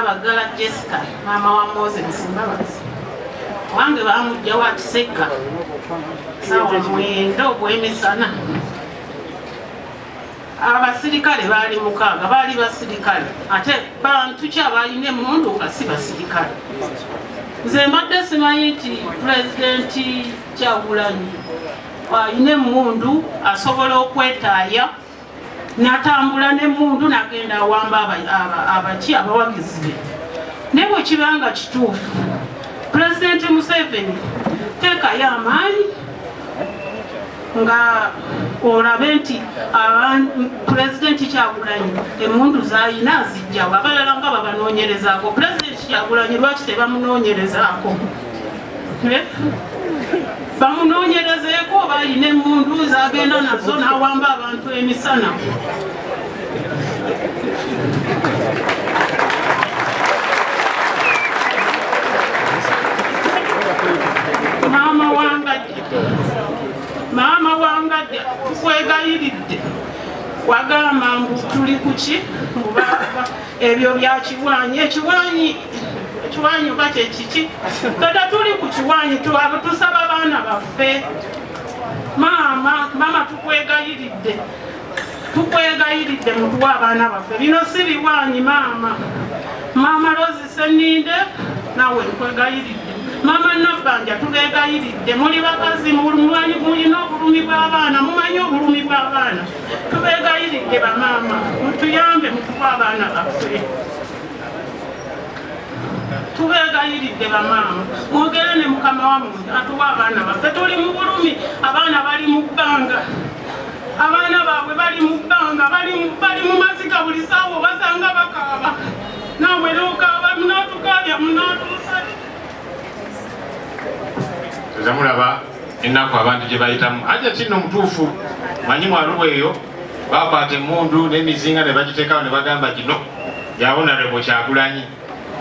Abaggala Jessica maama wa Moses Mbabazi wange bamujja wa Kisekka saawa mwenda ogw'emisana abasirikale baali mukaaga baali basirikale ate bantu ki abalina emundu nga si basirikale nze mbadde simanyi nti pulezidenti kyagulanyi alina emundu asobola okwetaaya natambula nemundu nagenda awamba abaki abawagizi be naye bwekibanga kituufu pulezidenti museveni teekayo amaanyi nga olabe nti pulezidenti kyagulanyi emundu zayina zijjawo abalala nga babanonyerezaako pulezidenti kyagulanyi lwaki tebamunonyerezaako bamunoonyerezeeko oba alina emmundu zagenda nazo n'awamba abantu emisana maama wangadde maama wangadde tukwegayiridde wagamba mbu tuli kuki ebyo bya kiwaanyi ekiwaanyi ekiwaanyi oba kyekiki tata tuli ku kiwaanyi tusaba abaana baffe maama maama tukwegayiridde tukwegayiridde mutuwa abaana baffe bino si biwaanyi maama maama lozi seninde nawe nkwegayiridde mama nabanja tubegayiridde muli bakazi mulina obulumi bw'abaana mumanyi obulumi bw'abaana tubegayiridde bamaama mutuyambe mukuba abaana baffe tubegayiridde bamaama mwogere ne mukama wamwe atuwa abaana baffe tuli mu bulumi abaana bali mu bbanga abaana baabwe bali mu bbanga bali mu maziga buli saawa obasanga bakaaba naamwe nokaaba munatukaabya munatuusa tezamulaba ennaku abantu gye bayitamu ajja kinno mutuufu manyi mwaluba eyo bakwata emundu n'emizinga ne bagiteekawo ne bagamba kino yabonarebo kyagulanyi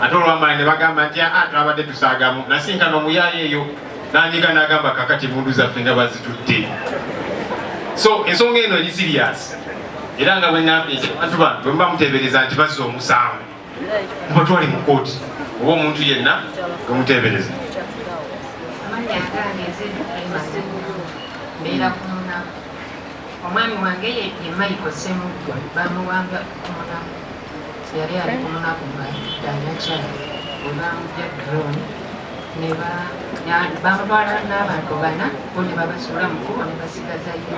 ate olwamala ne bagamba nti aa ah, twabadde tusaagamu nasinkana omuyaayo eyo nanyiga nagamba kakati emundu zaffe nga bazitutte so ensonga eno eri siriyasi era nga bwenambye abantu bano bwemuba muteebereza nti bazza omusango mubatwale mu kooti oba omuntu yenna gamuteebereza omwami wange ye maiko semuggwa bamuwanga kumunamu yali ali kumunaku ngadanakya webamugya drone nebamutwala n'abantu bana bo ne babasuula mukubo ne basigaza yyo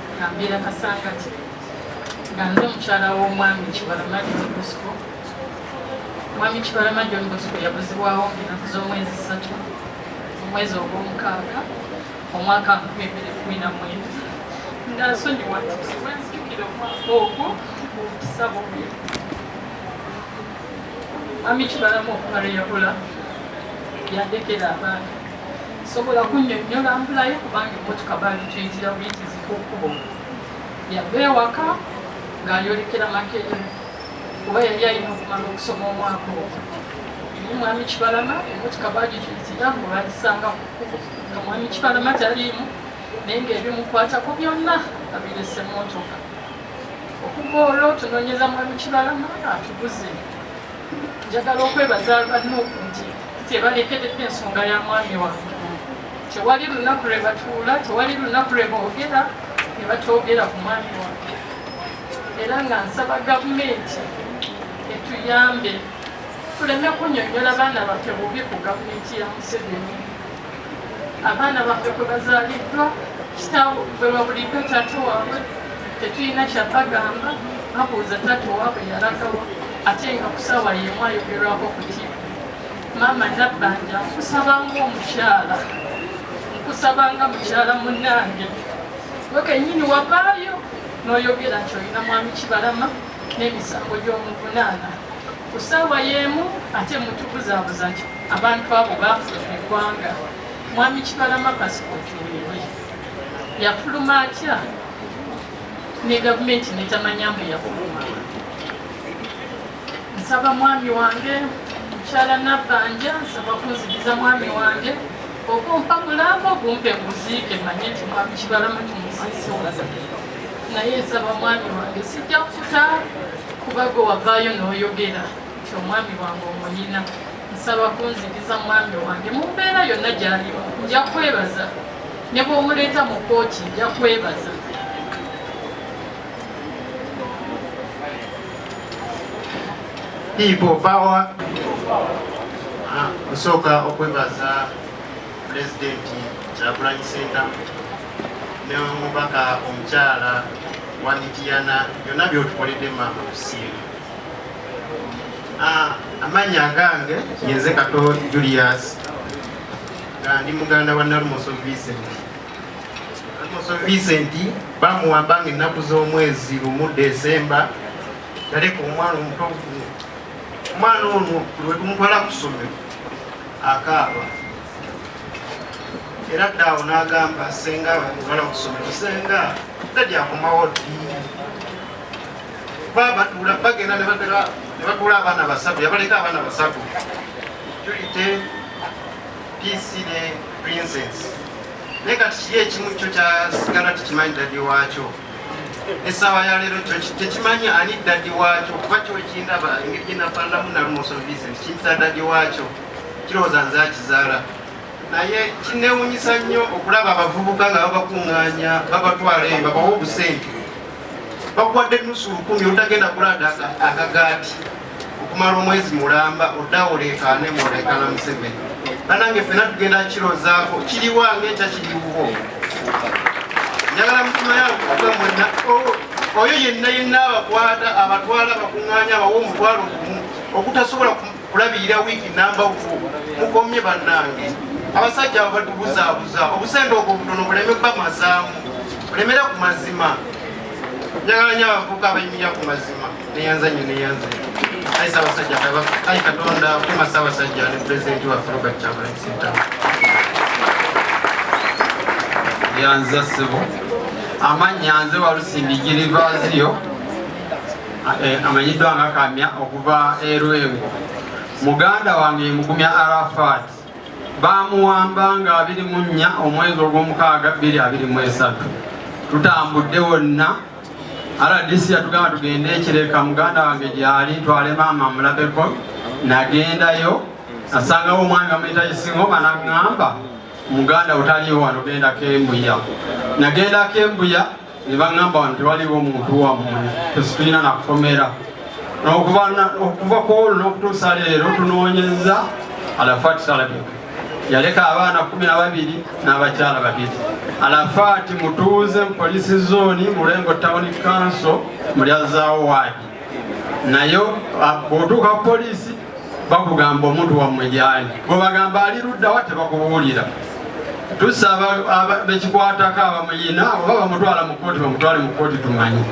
Kambeera Kasangati nga nze mukyala w'omwami Kibalama John Bosco. Omwami Kibalama John Bosco yabuzibwawo ng'ennaku z'omwezi ssatu mu mwezi ogw'omukaaga omwaka nkumi bbiri kumi na mwenda nga nsonyiwa nzijukira omwaka ogwo omukisa bubi Mwami Kibalama okuba lwe yabula yandekera abaana sobola kunnyonnyola mpulayo kubanga emmotoka baali tuyitira buyitizi ku kkubo yava ewaka ng'ayolekera makerere kuba yali alina okumala okusoma omwaka ogwo eri mwami kibalama emmotoka baagituyitira mbu bagisanga ku kkubo nga mwami kibalama taliimu naye ng'ebimukwatako byonna abirese mmotoka okuva olwo tunoonyeza mwami kibalama atuguze njagala okwebaza banuuku nti tebalekeredde ensonga ya mwami wange tewali lunaku lwe batuula tewali lunaku lwe boogera ne batoogera ku mwami wange era nga nsaba gavumenti etuyambe tuleme kunyonyola baana baffe bubi ku gavumenti ya museveni abaana baffe kwe bazaaliddwa kitaawe bwe babuliddwa taata waabwe tetulina kyabagamba babuuza taata owaabwe yalagawa ate nga ku ssaawa y'emu ayogerwako ku tiivi maama nabbanja nkusaba ng'omukyala nkusaba nga mukyala munnange gwe kennyini wavaayo n'oyogera nti olina mwami kibalama n'emisango gy'omuvunaana ku ssaawa y'emu ate mutubuzaabuza nti abantu abo baafuza eggwanga mwami kibalama pasipooti wewe yafuluma atya ne gavumenti netamanya mbu yafuluma nsaba mwami wange mukyala nabbanja nsaba kunzigiza mwami wange okumpa mulambo gumpe nguziike manye nti mwami kibalama kimuziisoza naye nsaba mwami wange sijja kuta kuba gwe wavaayo n'oyogera nti omwami wange omuyina nsaba kunzigiza mwami wange mu mbeera yonna gyalimu nja kwebaza ne bw'omuleeta mu kkooti nja kwebaza People power. Ah, kusooka okwebaza pulezidenti Kyagulanyi Ssentamu ne omubaka omukyala wa Mityana byonna byotukoledde maama kusiima ah, amannya agange yenze kato Julius nga ndi muganda wa Nalumoso Vincent Vincent bamuwamba nga ennaku z'omwezi lumu Desemba yaleka omwana omuto ogumu. Omwana ono lwe tumutwala ku ssomero akaaba era ddaawo n'agamba senga bamutwala ku ssomero senga tajakomawo ddi babatula bagenda ne batula abaana basatu yabaleka abaana basatu julite PC ne Princess. Naye kati kiri ekimu kyo kyasigala tekimanyi dadi waakyo essaawa ya leero kyo tekimanyi ani dadi waakyo kuba kyo ekindaba engeri gye nafaananamu nalumoso vincent kimpita dadi waakyo kirowooza nze akizaala naye kinewunyisa nnyo okulaba abavubuka nga babakuŋŋaanya babatwala eyo babawa obusente bakuwadde nusu lukumi otagenda kulanda akagaati okumala omwezi mulamba oddawo oleekaane mwoleekaana museveni banange fena tugenda kirozaako kiriwa ngaekya kiriwuwo njagala mutima yange kuga mwena oyo yenna yenna abakwata abatwala abakuŋŋaanya abawa omutwalo gumu okutasobola kulabirira wiiki namba uku mukomye bannange abasajja abo batubuzaabuza obusente obwo butono buleme bamazaamu bulemera ku mazima njagala nyo abavuka abenyumira ku mazima neyanza nyo neyanza ayi sabasajja kabaka ayi katonda kuma sabasajja ne pulezidenti waffe robert kyagulanyi sentamu yanza sebo amannya nze walusimbi girivaziyo eh, amanyiddwa nga kamya okuva erwengo muganda wange mugumya arafat baamuwamba nga abiri mu nnya omwezi ogw'omukaaga bbiri abiri mu esatu tutambudde wonna rdc yatugamba tugende ekireka muganda wange gyali twale maama mulabeko nagendayo asangawo omwami bamuyita isingoma naŋŋamba muganda otaliwo wano genda kembuya nagenda kembuya ne baŋŋamba wano tewaliwo muntu wammwe tetulina nakukomera okuva ku olwo n'okutuusa leero tunoonyeza alafaati salabika yaleka abaana kumi na babiri n'abakyala babiri alafaati mutuuze mu polisi zooni mulengo tawuni kanso mulyazaawo waadi naye bwotuuka ku poliisi bakugamba omuntu wammwe gyali gwebagamba ali luddawa tebakubuulira tusaba bekikwatako abamuyina oba bamutwala mu kooti bamutwale mu kooti tumanyi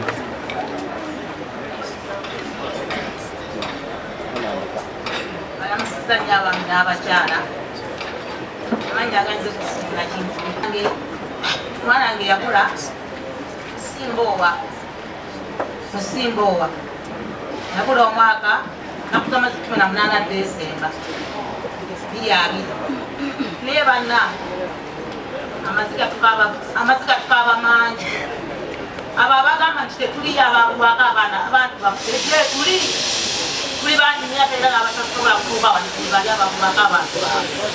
mwana wange yakula simboowa Musimba owa nabula omwaka nakutama kikumi na munana Desemba biri abiri naye banna amaziga tukaaba mangi abo abagamba nti tetuliyo abakuwaka abaana abantu bakutetule tuli tuli bangi myaka era abatasobola kutuuka wano tuli bali abakuwaka abantu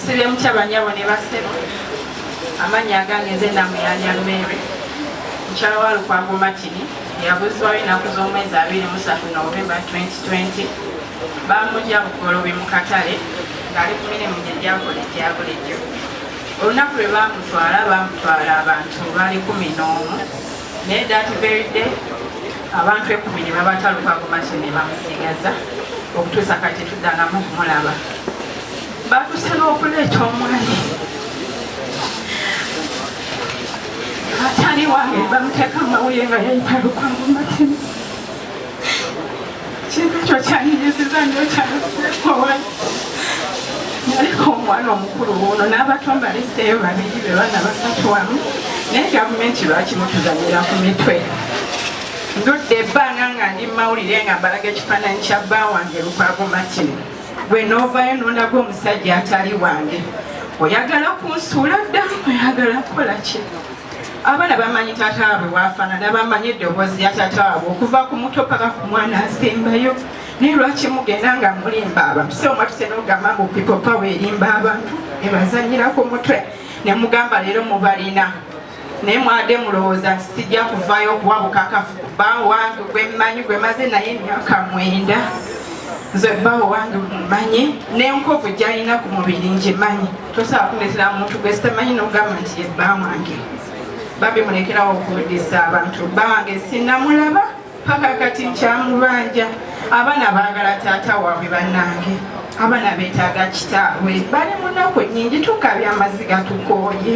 sibye mutya banyabo ne basebo amannya agange nze namuyanya mere mukyala wa lukwago matini yabuzwayo enaku z'omwezi abiri musatu novemba 2020 bamugya bugolobi mu katale ng'ali ku mirimu gye gyakola egya bulijjo olunaku lwe bamutwala bamutwala abantu bali kumi n'omu naye datuberidde abantu ekumi ne babatalukako maki ne bamusigaza okutuusa kati tuddangamu okumulaba batuse n'okuleeta omwami atali wange bamuteeka mawulire nga yayitalukamu maki Kintu ekyo kyanyiziza nnyo kyakuwai naliko omwana omukulu wuuno n'abato mbaliseeyo babiri be baana basatu wamu naye gavumenti lwaki mutuzanyira ku mitwe ndudde ebbanga nga ndi mumawulire nga mbalaga ekifaananyi kya bba wange lukwago martin gwe n'ovaayo nondaga omusajja atali wange oyagala kunsuula dda oyagala kukola ki Abana bamanyi tata abwe wafanana bamanyi eddoboozi ya tata abwe okuva ku muto paka ku mwana asembayo naye lwaki mugenda nga mulimba abantu si omwatuse nogamba mbu people power erimba abantu nebazanyira ku mutwe nemugamba leero mubalina naye mwade mulowooza nti sijja kuvayo okuwa bukakafu kuba wange gwemmanyi gwemaze naye emyaka mwenda nze bbawo wange mumanyi nenkovu gyalina ku mubiri ngimanyi tosobola kuleetera muntu gwe sitamanyi n'ogamba nti ye bba wange babi mulekerawo okuwuddisa abantu bba wange sinamulaba paka kati nkyamubanja abaana baagala taata waabwe bannange abaana betaaga kitaabwe bali munaku nyingi tukabye amaziga tukooye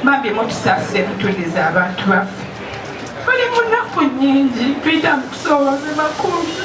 bambi mutusaasire mutuliza abantu baffe bali munaku nyingi tuyita mukusooboze bakulu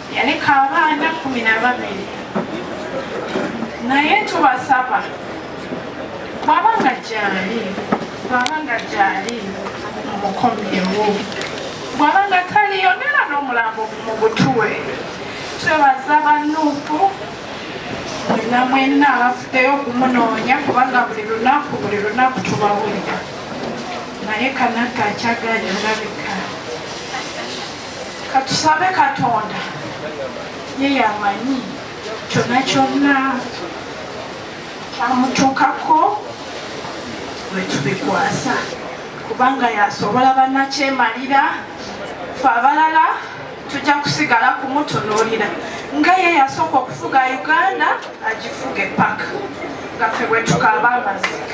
yaleka abaana kumi na babiri naye tubasaba bwaba nga gyali bwaba nga gyali mukomyewo bwaba nga taliyo nera n'omulambo mu butuwe twebaza banuupu mwena mwena abafuddeyo okumunoonya kubanga buli lunaku buli lunaku tubawulira naye kanaka akyaganya olabika katusabe katonda ye yamanyi kyona kyonna kyamutuukako wetubikwasa kubanga yasobola banakyemalira fe abalala tujja kusigala kumutunuulira nga ye yasooka okufuga uganda agifuge paka nga fe bwetukaaba amazika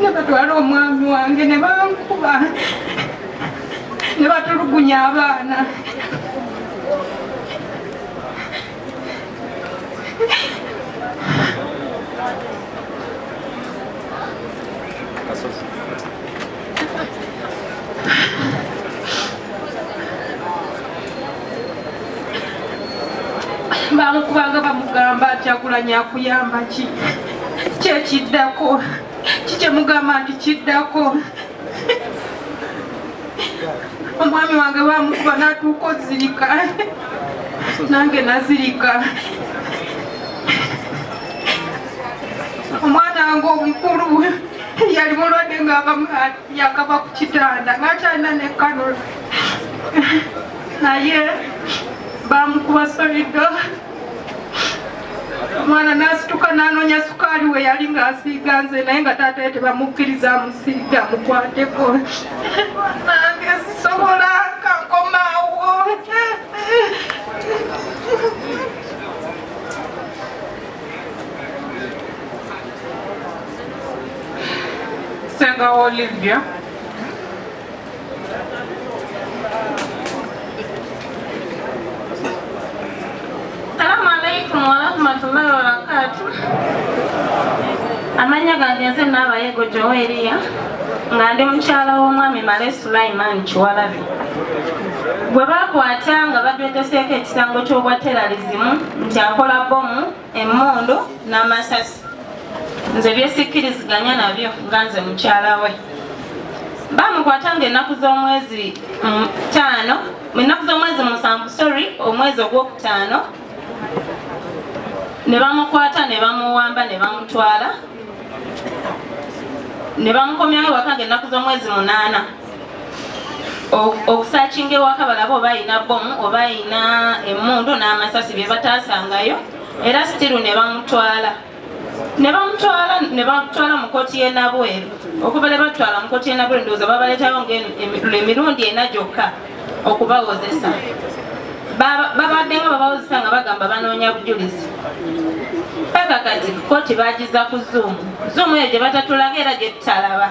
ne batwala omwami wange ne bankuba ne batulugunya abaana bamukubanga bamugamba kyakulanya akuyamba ki kyekiddako kikyemugamba nti kiddako omwami wange bamukuba natuuka ozirika nange nazirika omwana wange omukulu yali mulwadde nga yakava ku kitanda ngakyalina ne kanula naye bamukuba solido omwana nasituka nanonya sukaali we yali ngaasiiga nze naye nga taata ye tebamukkiriza amusiiga mukwateko nange sisobola kankomaawo Senga Olivia. Salamu alaikum warahmatullahi wabarakatuh. Amanya gange nze Naabayego Joweria nga ndi mukyala w'omwami Male Sulaiman Kiwalabi gwe baakwata nga badweteseeko ekisango ky'obwa teralizimu nti akola bbomu emmundu n'amasasi nze byesikkiriziganya nabyo nga nze mukyala we bamukwata nga ennaku z'omwezi mm, taano ennaku z'omwezi musanvu sorry omwezi ogwokutaano ne bamukwata ne bamuwamba ne bamutwala ne bamukomyawo ewaka nga ennaku z'omwezi munaana okusakinga ewaka balaba oba alina bomu oba alina emundu n'amasasi bye bataasangayo era sitiru ne bamutwala ne bamutwala ne bamutwala mu kkooti y'e Nabweru okuva ne batwala mu kkooti y'e Nabweru ndowooza babaleetayo ng'emirundi ena gyokka okubawozesa babadde nga babawozesa nga bagamba banoonya bujulizi paka kati kkooti bagiza ku zuumu zuumu eyo gye batatulaga era gye tutalaba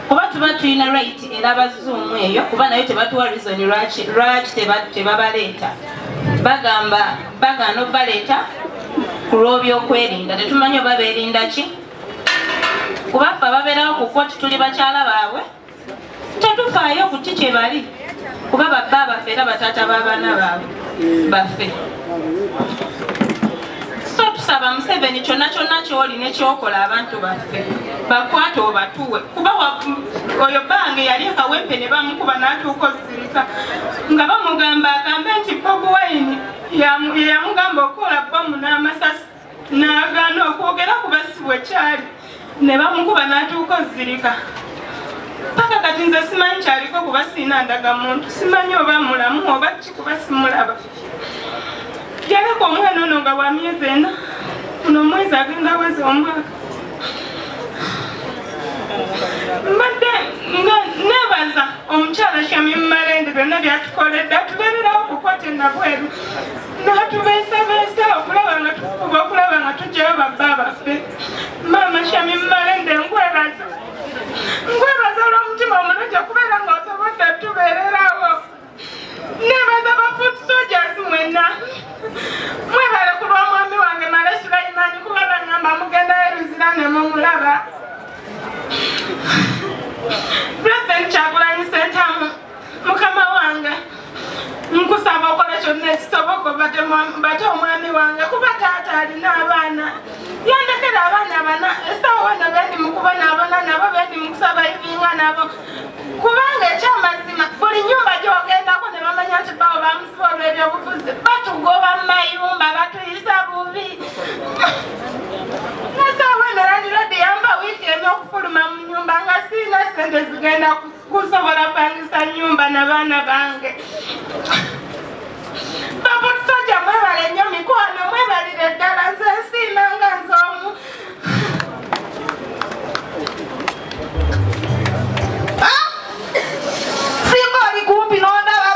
kuba tuba tulina right era bazuumu eyo kuba nayo tebatuwa reason lwaki lwaki tebabaleeta bagamba bagaana okubaleeta ku lw'obyokwerinda tetumanyi oba beerinda ki kuba ffe ababeerawo ku koti tuli bakyala baabwe tetufaayo ku ki kye bali kuba babba baffe era bataata b'abaana baabwe baffe so tusaba museveni kyonna kyonna kyoli nekyokola abantu baffe bakwate obatuwe kuba oyo bange yali ekawempe ne bamukuba n'atuuka ozirika nga bamugamba agambe nti bobi wayini yeyamugamba okukola bomu n'amasasi n'agaana okwogera ku basibwa ekyali ne bamukuba n'atuuka ozirika paka kati nze simanyi kyaliko kuba sirina ndaga muntu simanyi oba mulamu oba ki kuba simulaba yaleka omwana ono nga wa myezi ena kuno omwezi agenda wezi omwaka mbadde nga nebaza omukyala shamim malende byonna byatukoledde atubererawo kukwatenda bweru natubeesabeesa okulaba nga tukuba okulaba nga tugyayo babba baffe maama shami mmalende nkwebaza nkwebaza olw'omutima omulungi okubeera ng'osobodde tubeererawo nebaza ba foot soldiers mwenna mwebale ku lwa mwami wange male sulaimani kuba bangamba mugendayo luzira ne mumulaba president kyagulanyi sentamu mukama wange nkusaba okola kyonna ekisoboka bate omwami wange kuba taata alina abaana yandekera abaana bana esawa wano bendi mukuba nabona nabo bendi mukusaba ibinga nabo kubanga ekyamazima buli nyumba gyogendako ne bamanya nti bawo bamusiba olwebyobufuzi batugoba mu mayumba batuyisa bubi nasawa wano landilodi yamba wiiki emu okufuluma mu nyumba nga siina sente zigenda ku kusobola pangisa nyumba na baana bange babutusoja mwebale nnyo mikwano mwebalire ddala nze nsiima nga nze omu ah! singa oli kumpi nondaba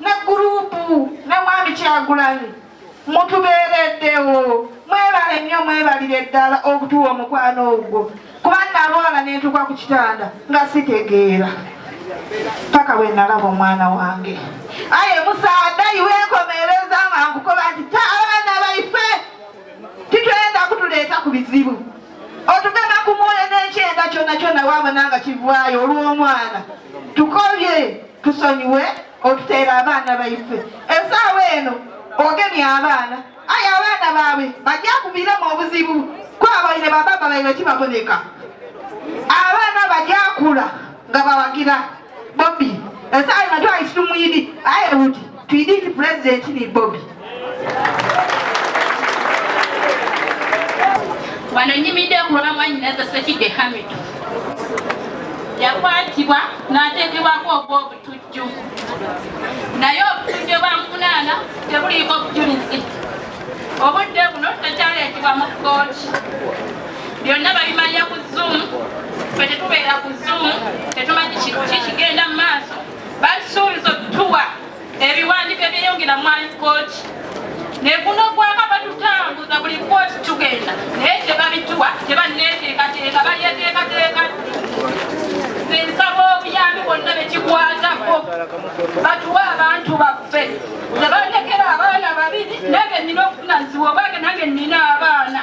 ne gurupu ne mwami kyagulanyi mutubeereddewo mwebale nnyo mwebalire ddala okutuwa omukwano ogwo kuba nalwala nentuka ku kitanda nga sitegeera paka bwe nalaba omwana wange aye musaadayi wekomereza nga nkukoba nti ta abaana baife titwenda kutuleeta ku bizibu otugana ku mwoyo n'ekyenda kyona kyona wabona nga kivaayo olw'omwana tukobye tusonyiwe okuteera abaana baife esaawa eno ogemye abaana aye abaana baabwe bajakuviremu obuzibu kwabaire bababa baire kibaboneka abaana bajakula nga bawagira bobi esaawa eno twali situmwidi aye buti Pididi president ni Bobi. Wano nyimide ku lwa mwanyinaze Ssekidde Hamidu yakwatibwa n'ateekebwako ogw'obutujju naye obutujju bwamuvunaana tebuliiko bujulizi obudde buno tekyaleetebwa mu kkooti byonna babimalira ku zuumu fe tetubeera ku zuumu tetumanyi kikigenda mu maaso basuubiza okutuwa ebiwandiiko ebyeyongera mwayi kooti ne guno gwaka batutambuza buli kooti tugenda naye tebabituwa tebanneeteekateeka balyeteekateeka nze nsaba obuyambi bonna bekikwatako batuwe abantu baffe tebalekera abaana babiri nange nina okufunanziwa obange nange nina abaana